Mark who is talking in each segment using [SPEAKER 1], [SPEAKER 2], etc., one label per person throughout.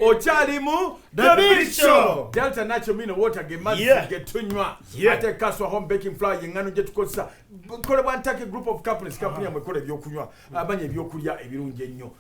[SPEAKER 1] okyalimu
[SPEAKER 2] delta nacho mino water
[SPEAKER 1] ge mazzi Yeah. ge tunywa Yeah. ate kaswa home baking flour yengano gye tukozesa kolebwa ntake group of companies kampuni yamwe ekola ebyokunywa amanya ebyokulya ebirungi ennyo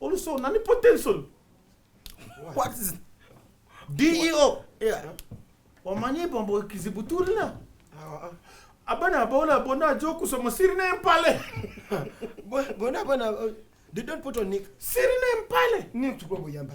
[SPEAKER 3] Also, nani potential? What is DEO?
[SPEAKER 1] Yeah.
[SPEAKER 3] Wamanye
[SPEAKER 1] bombo kizibuturina. Ah, ah. Abana bona bona joku so masiri na mpale.
[SPEAKER 2] Bona bona uh, they don't put on nick. Siri na mpale.
[SPEAKER 1] Nick tuko boyamba.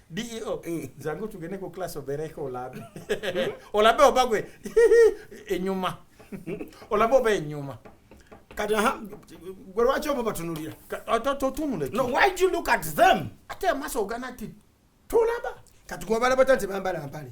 [SPEAKER 3] DEO
[SPEAKER 1] eh. zangu tugende ku class obereko olabe hmm? olabe obagwe enyuma olabe oba enyuma
[SPEAKER 3] kati gwe lwaki obo batunulira totunule
[SPEAKER 1] no why do you look
[SPEAKER 3] at them ate amaso ogana
[SPEAKER 1] ti tulaba kati gwe obalaba
[SPEAKER 2] tanti bambala mpale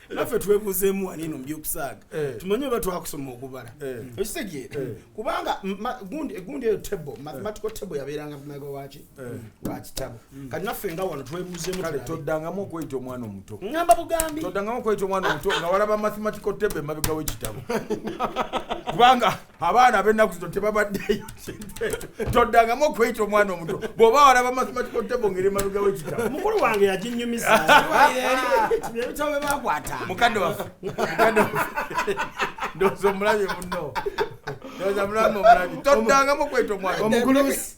[SPEAKER 3] era ffe twebuuzeemu waniino mu byokusaaga eh. tumanye oba twakusoma okubala eh. ekitegeera eh. kubanga egundi eyo table mathematical table yabeeranga mumega waki wakitabo mm. kati naffe nga wano twebuuzeemutoddangamu
[SPEAKER 1] okweyita omwana omuto ngamba bugambitoddangamu
[SPEAKER 3] okweyita omwana omuto
[SPEAKER 1] nga walaba mathematical table emabega wekitabo kubanga abaana abennaku zino tebabaddeyo toddangamu okweyita omwana omuto bw'oba walaba mathematical table ngeri emabega w'ekitabo mukulu wange yaginyumisa
[SPEAKER 3] ebitabo bye bakwata mukadde waffe
[SPEAKER 1] mukadde waffe ndowooza omulabye munno ndowooza mulamu omulabye toddangamu okweyita omwana omugulusi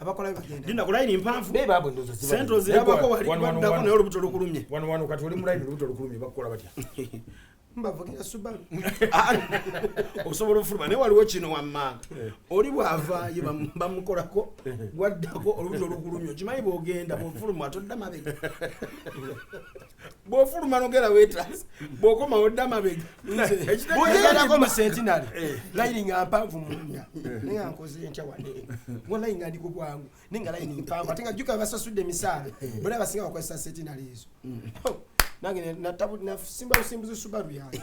[SPEAKER 1] abakola
[SPEAKER 2] bagenda linda kulayini mpanvu be
[SPEAKER 3] babu ndozo ziba sento
[SPEAKER 1] zirabako wali
[SPEAKER 3] badako nayo lubuto lukulumye wano wano kati oli mulayini
[SPEAKER 1] lubuto lukulumye bakola batya mbavugira
[SPEAKER 2] subaru ah,
[SPEAKER 3] osobola ofuluma naye waliwo kino wamma eh. oli bwava ye bamukolako eh. gwaddako olubuto lukulumye okimanyi bwogenda bwofuluma todda mabega bwofuluma nogera wetras bwokoma odda mabega
[SPEAKER 2] bwogerako mu sentinary eh. layini nga mpanvu munya eh. naye ankoze ntya wane ngo layini nga ndi ku bwangu naye nga layini mpanvu ate nga jjuka basasudde emisaala eh. bona basinga bakozesa sentinary ezo hmm. nange nasimba busimbuzi subaru yange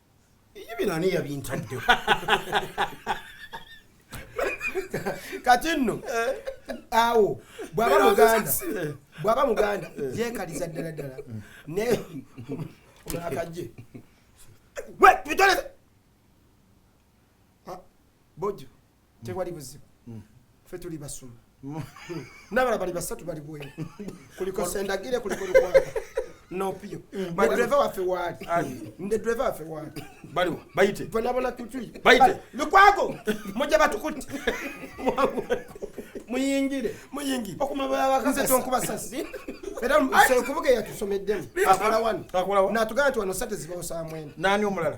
[SPEAKER 3] Iyo bino ani yabintaddewo?
[SPEAKER 2] kati nno awo bwaba muganda bwaba muganda yekaliza ddala ddala ne omulakajje we tubitoleze ah, bojo tewali buzibu mm. fe tuli basuma mm. nabala bali basatu bali bweru kuliko sendagire kuliko lukwaa nopiyo badreva waffe waali nde dreva waffe waali baliwo
[SPEAKER 1] bayite bonabona kutui
[SPEAKER 2] bayite lukwago mujja batukutte muyingire muyingire okumabalabakanze tonkuba sasi era okubuga eyatusomeddemu akola wano natugamba nti wano sate zibawo saa mwenda nani omulala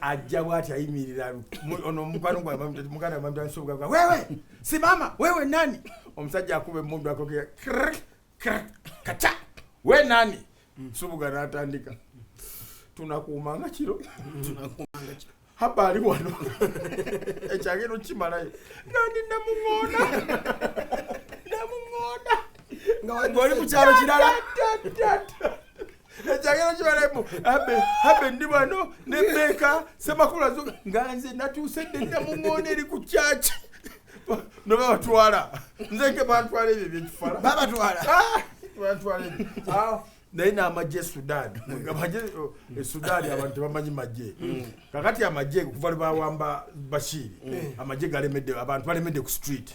[SPEAKER 1] ajja bwati ayimirira ono mukwano gwamuganda mamtansobugagwa wewe simama wewe nani omusajja akuba emundu akoge kaca we nani mm. subuga natandika tunakuumanga kiro haba ali wano ekyagenda okukimalayo nga ndi namuŋoona namuŋoona ngaoli ku kyalo kirala ekyagero kibalemu abe abe ndi bano nemeeka semakulu azuka nga nze natuuse ddenda mu ŋoona eri ku kyaki nobabatwala nze nke bantwala ebyo byekifala babatwala ah, bantwala ebyo ah, naye n'amagye e sudan amagye oh, e sudan abantu tebamanyi magye mm. kakati amagye kuva lwebawamba bashiri mm. amagye galemedde abantu balemedde ku street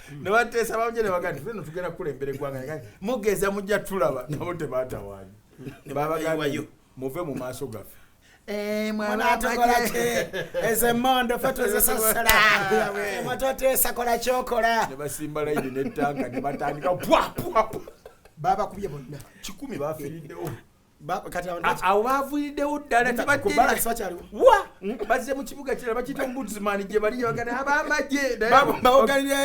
[SPEAKER 1] hmm. nebateesa bamuje nebagaa nti feno tugenda kukulembera eggwanga mugeza mujja tulaba nabo tebatawanya hmm. babagambayo muve mu maaso gaffe eh,
[SPEAKER 3] ezemondofetwezesasalamatwateesakola eh, kyokola nebasimba laini
[SPEAKER 1] netanka nebatandika bwabwabwa
[SPEAKER 2] babakubye bonna kikumi bafiriddewo awo bavuiriddewo
[SPEAKER 1] ddala tebaddewa mm, bazze mu kibuga kirala bakiyita ombudsman gye bali gyebagana abamagye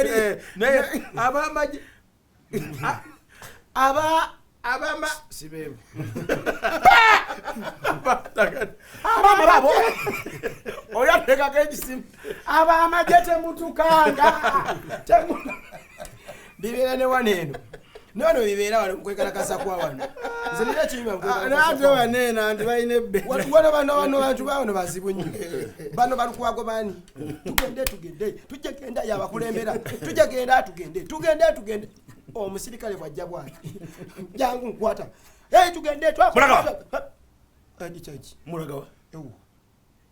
[SPEAKER 1] eh, naye abamagye aba abama sibebo
[SPEAKER 2] abama babo oyo atekako ekisimu abamagye temutukanga bibeera ne wano eno newano bibeera wano mukwekalakasa kwa wano nze nina kinyuma mukwekalakasa kwa wano.
[SPEAKER 3] neena nti balina ebbe Wa- wano bano bano
[SPEAKER 2] bantu bawano bazibu nnyo bano balukwago bani tugende tugende tujja genda yabakulembera tujja genda tugende tugende tugende omusirikale bwajja bwati jangu nkwata Hey, tugende twakola- Mulagawa. Andi
[SPEAKER 3] kyaki? mulagawa Ewu.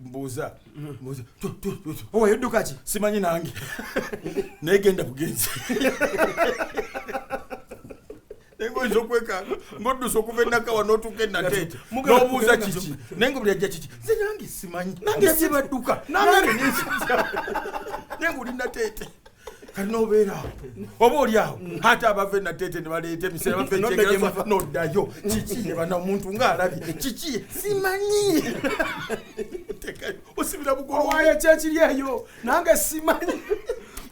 [SPEAKER 1] mbuuza mbuuza Tu,
[SPEAKER 2] tu, tu, tu. owayo dduka ki simanyi nange
[SPEAKER 1] naye genda bugenzi naye ngoyinza okwekanga ng'oddusa okuva enakawa n'otuuka enateete Mugala n'obuuza kugenda kiki nso- naye nga buli ajja kiki nze nange simanyi Nange si badduka. Nange ne- naye ng'oli nateete kati nobeera awo oba oli awo ate abave natete nebaleeta emisera bafekyegera noddayo kiki nebana omuntu ngaalabye kiki simanyi osibira bugowayo kyekiri
[SPEAKER 2] eyo nange simanyi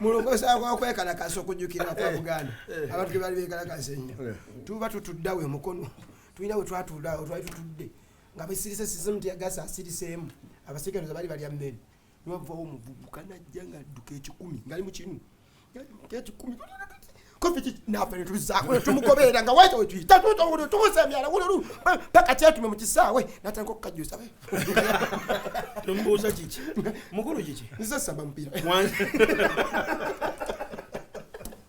[SPEAKER 2] mulokosa kwakwekalakasa okujukira kwa eh, buganda eh. abantu gebali bekalakasa enyo eh. tuba tutuddawo emukono tulina wetwatuldawo twali tutudde nga besirise sizimu tiyagasa asiriseemu abasiganuza bali balya mmere wavawo omuvubuka najja ngaadduka ekikumi ngali mukimu ekikumi nafe netuzaako netumugoberera nga waita wetuyita tubuza emyala wululu paka kyetume mu kisaawe natandika okukajusa tomubuuza
[SPEAKER 3] kiki mukulu kiki nze saba mupiira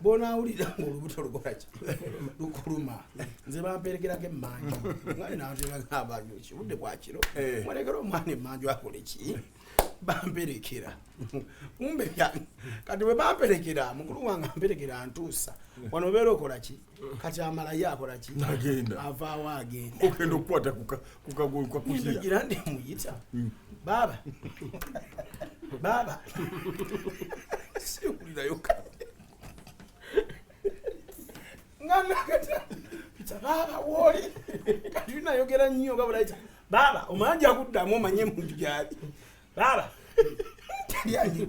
[SPEAKER 3] bwonawulira nga olubuto lukolaki lukuluma nze bamperegerako emanju mwali nantebagambanju kibudde bwakiro eh. mwalekera omwana emanju akole ki bamperekera kumbe kati bwe bamperekera mukulu wange amperekera ntuusa wano obeera okola ki kati amalayo akola ki avaawo agenda okenda okukwata
[SPEAKER 1] kukagulwa kugira ngira ndi muyita
[SPEAKER 3] mm. baba baba sikulira yoka ngana kata pita baba woli kati nayogera nnyo nga bulaita baba omanja kuddamu omanye muntu gyali baba talianyi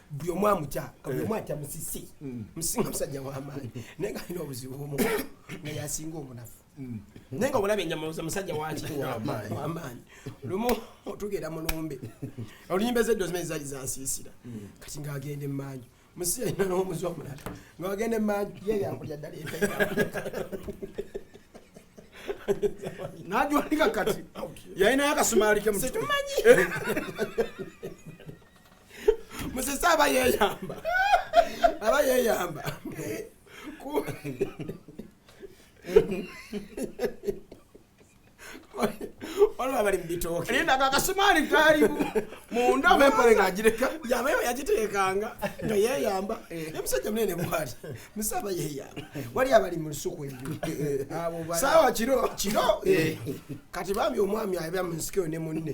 [SPEAKER 2] buli omu amutya nga buli omu atya musisi musinga musajja wamaanyi naye nga alina obuzibu omu nga yasinga omunafu naye nga olaba enyama musajja wakiwamaanyi lumu otugenda mulumbe oluyimba ezeddo zimene zali zansiisira kati ngaagenda emmanju musisi alina n'omuzi omulala ngaagenda emmanju ye yakulya ddala
[SPEAKER 3] najwanika kati yalinayo akasumaali kemutumanyi
[SPEAKER 2] musese aba yeyamba aba yeyamba Ku- olwo abali mu bitooke linda ako akasumaali
[SPEAKER 3] kaali mu- munda Oba empale ng'agireka yaba yo yagiteekanga
[SPEAKER 2] nga yeyamba ne musajja munene bwali musese aba yeyamba wali abali mu lusuku eggulu Abo bali- saawa kiro
[SPEAKER 3] kiro eh,
[SPEAKER 2] kati bambi omwami abya mu nsikeyo ne munne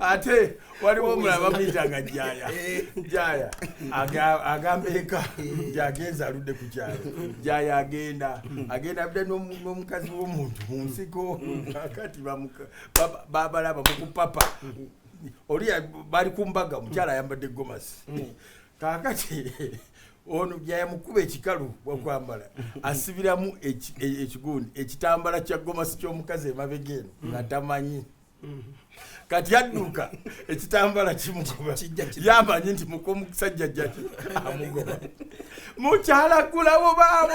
[SPEAKER 1] ate waliwo omulala bamuyitanga jaya jaya agamba eka jagenza aludde ku kyalo jaya agenda agenda abda n'omukazi w'omuntu mu nsiko akati babalaba mukupapa oli bali ku mbaga omukyala ayambadde gomasi kaakati ono byayamukuba ekikalu wakwambala asibiramu ekigundi e, ekitambala kya gomasi ky'omukazi emabega eno nga tamanyi kati yadduka ekitambala kimugoba yamanyi nti mukomusajja jjaki amugoba mukyalagulawo baabo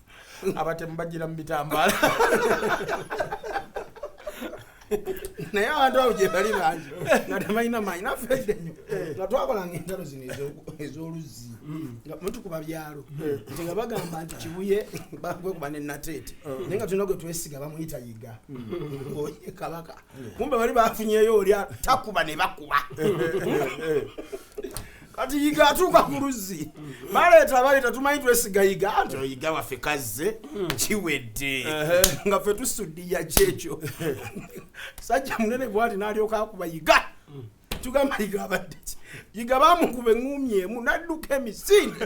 [SPEAKER 1] abatemu bajira mu bitambaala
[SPEAKER 3] naye abantu abo gyebali bangi nga tebalina maanyi nafedde nyo eh. nga twakolanga entalo zino ez'oluzzi mm. nga mutukuba byalo eh. nti nga bagamba nti kibuye bagwekuba ne nateete eh. naye nga tulina gwe twesiga bamuyita yiga mm. oye kabaka kumbe bali bafunyeyo olya takuba ne bakuba kati yiga atuuka ku luzzi baleeta baleeta tumanyi twesiga yiga anti oyiga waffe kazze kiwedde nga ffe tusuddiya kyekyo sajja munene bwati n'alyoka akuba yiga tugamba yiga abadde ki yiga bamukuba eŋŋumyemu n'adduka emisinde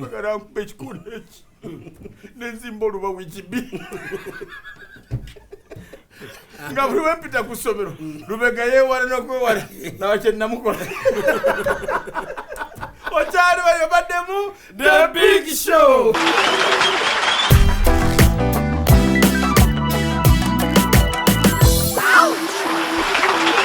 [SPEAKER 1] bagala nkuba ekikolo eki nenzimba oluba wikibi nga buli wempita ku ssomero lubega yewala nokwewala nawa kyenamukola okyali bayo baddemu the big show